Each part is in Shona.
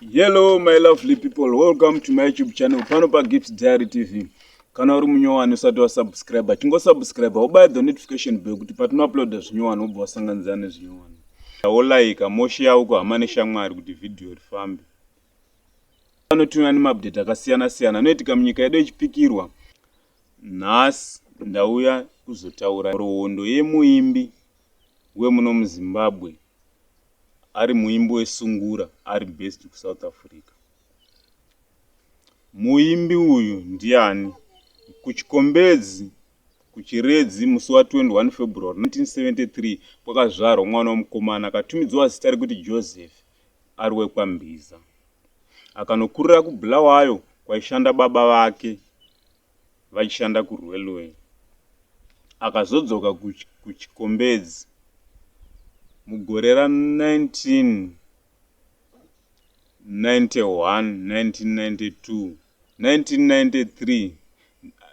Hello my lovely people, welcome to my YouTube channel pano pa Gift Diary TV. Kana uri munyowani usati wa subscribe, chingo subscribe, ubaya the notification bell kuti patino upload zvinyowani ubva wasanganidzana nezvinyowani. Wo like, moshi yawo ku hama neshamwari kuti video rifambe. Pano tuna nema update akasiyana siyana anoitika munyika yedu yechipikirwa. Nhasi ndauya kuzotaura rohondo yemuimbi wemuno muZimbabwe ari muimbi wesungura ari based kusouth africa muimbi uyu ndiani kuchikombedzi kuchiredzi musi wa 21 february 1973 kwakazvarwa mwana wemukomana akatumidzwa zita rekuti joseph ari wekwambiza akanokurira kubulawayo kwaishanda baba vake vachishanda kuRailway. Akazodzoka kuChikombedzi mugore ra 1991, 1992, 1993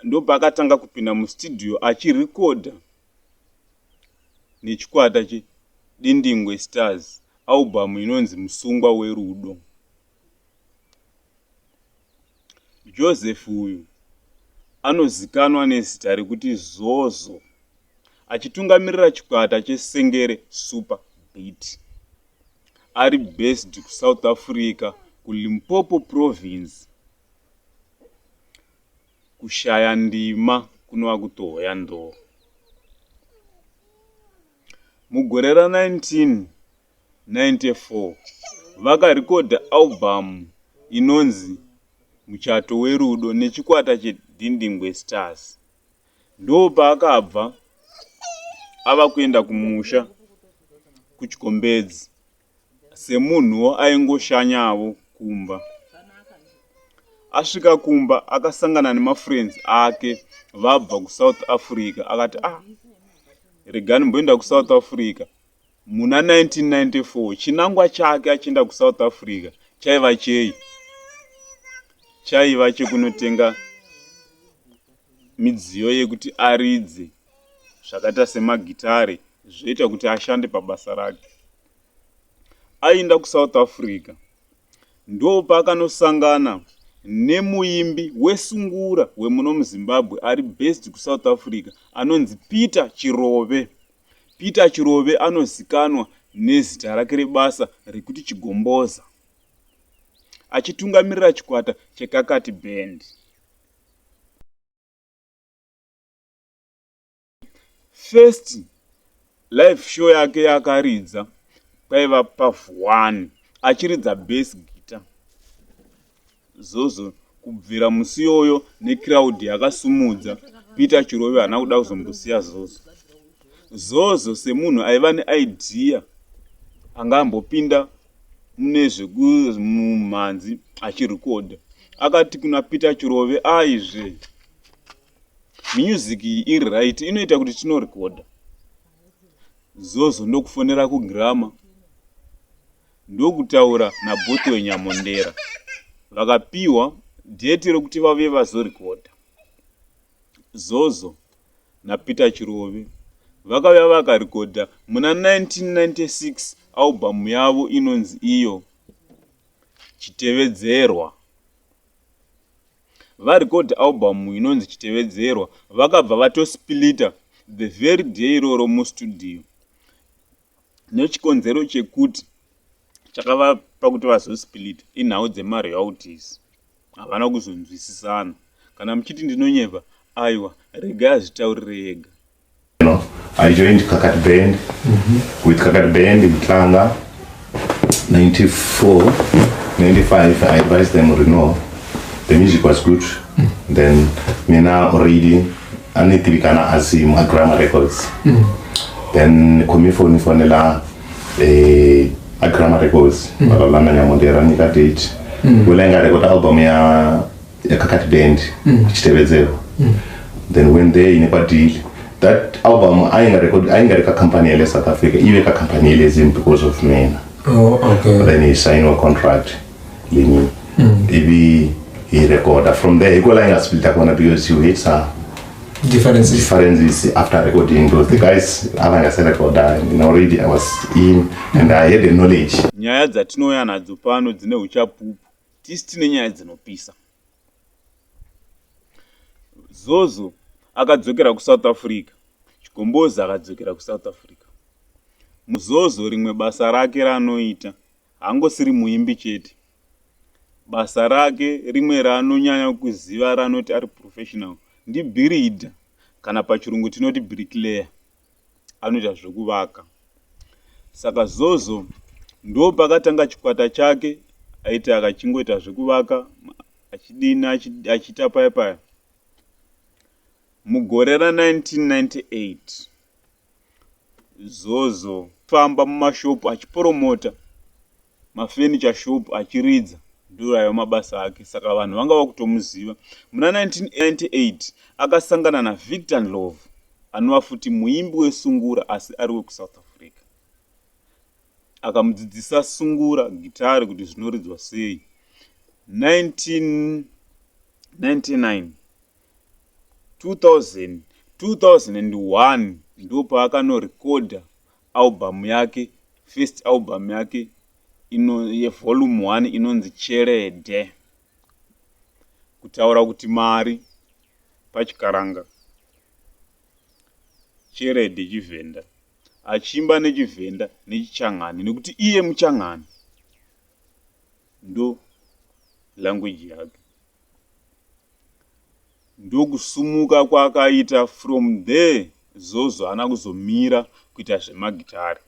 ndopaakatanga kupinda mustudio achirekodha nechikwata che Dindingwe Stars album inonzi Musungwa Werudo. Joseph uyu anozikanwa nezita rekuti Zozo achitungamirira chikwata cheSengere Super Beat ari based kuSouth Africa kuLimpopo Province kushaya ndima kunova kutohoya ndoo. Mugore ra 19 1994, vakarekodha arubhamu inonzi Muchato Werudo nechikwata cheDhindingwe Stars. Ndopaakabva ava kuenda kumusha kuChikombedzi semunhuwo aingoshanyawo kumba. Asvika kumba akasangana nemafriends ake vabva kuSouth Africa akati ah, regani mboenda kuSouth Africa Muna 1994 chinangwa chake achienda kuSouth Africa chaiva chei? Chaiva chekunotenga midziyo yekuti aridze zvakaita semagitare zvoita kuti ashande pabasa rake. Aienda kuSouth Africa Ndopaakanosangana nemuimbi wesungura wemuno muZimbabwe ari based kuSouth Africa anonzi Peter Chirove. Peter Chirove anozikanwa nezita rake rebasa rekuti Chigomboza achitungamirira chikwata cheKakati Band. First live show yake yakaridza paiva pavuwani achiridza base gita zozo kubvira musi yoyo necrowd yakasumudza peter chirove haana kuda kuzombosiya zozo zozo semunhu aiva neidea anga ambopinda mune zvekumumhanzi achirekodha akati kuna peter chirove aizve ah, music iri right inoita kuti tinorekoda zozo ndokufonera kugrama ndokutaura nabhoth wenyamondera vakapiwa dheti rekuti vave vazorekoda zozo napeter chirove vakauya vakarekoda muna 1996 albhamu yavo inonzi iyo chitevedzerwa varecord album inonzi Chitevedzerwa vakabva vatosplita the very day iroro mustudio nechikonzero chekuti chakavapa kuti vazosplita inhau dzemarealties havana kuzonzwisisana kana muchiti ndinonyepa aiwa regai azvitaurire ega You know, I joined Kakati Band. Mm -hmm. With Kakati Band in Tlanga, 94, 95, I advised them, Reno, the music was good. Mm -hmm. Then, Mina already, anitibikana as my grammar records. Mm -hmm. Then, komifoni fonela, eh, a grammar records. Mm -hmm. Babalana nyamondera, nika date. Mm -hmm. Wela inga record album ya yakakati band mm. ichitevedzerwa mm. then when they ine kwadhili that album aingareka kacompany yele south africa ive kacompany yele zim because of mena oh, okay. then he sign a contract lini mm. ivi he recorda from there ikola aingasplita kona because you hate sa differences. differences after recording those the guys avangaserekoda you know, already i was in and i had the knowledge nyaya dzatinouya nadzo pano dzine uchapupu tisi tine nyaya dzinopisa zozo akadzokera kusouth africa chikombozi akadzokera kusouth africa muzozo rimwe basa rake raanoita hangosiri muimbi chete basa rake rimwe raanonyanya kuziva raanoti ari professional ndibhiridha kana pachirungu tinoti brickleya anoita zvekuvaka saka zozo ndo pakatanga chikwata chake aiti akachingoita zvekuvaka achidini achiita paya paya mugore ra 1998 zozo famba mumashopu achiporomota mafurniture shop achiridza ndiro aiva mabasa ake saka vanhu vanga vakutomuziva. Muna 1998 akasangana naVictor Ndlovu anova futi muimbi weSungura asi ari wekuSouth Africa. Akamudzidzisa Sungura gitare kuti zvinoridzwa sei. 1999 2000 2001 ndopaakanorekodha album yake first album yake ino yevolume 1 inonzi cherede kutaura kuti mari pachikaranga cherede chivhenda achiimba nechivhenda nechichangani nekuti iye muchangani ndo language yake ndokusumuka kwaakaita from there Zozo haana kuzomira kuita zvemagitare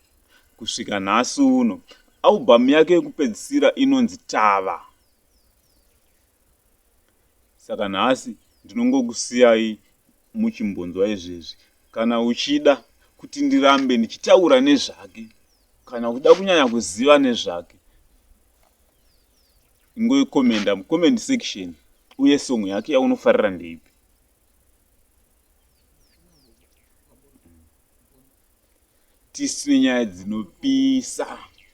kusvika nhasi uno. Album yake yekupedzisira inonzi Tava. Saka nhasi ndinongokusiyai muchimbonzwa izvezvi kana uchida kuti ndirambe ndichitaura nezvake kana kuda kunyanya kuziva nezvake Ingoikomenda mucomment section uye song yake yaunofarira ndeipi. Tisu nenyaya dzinopisa.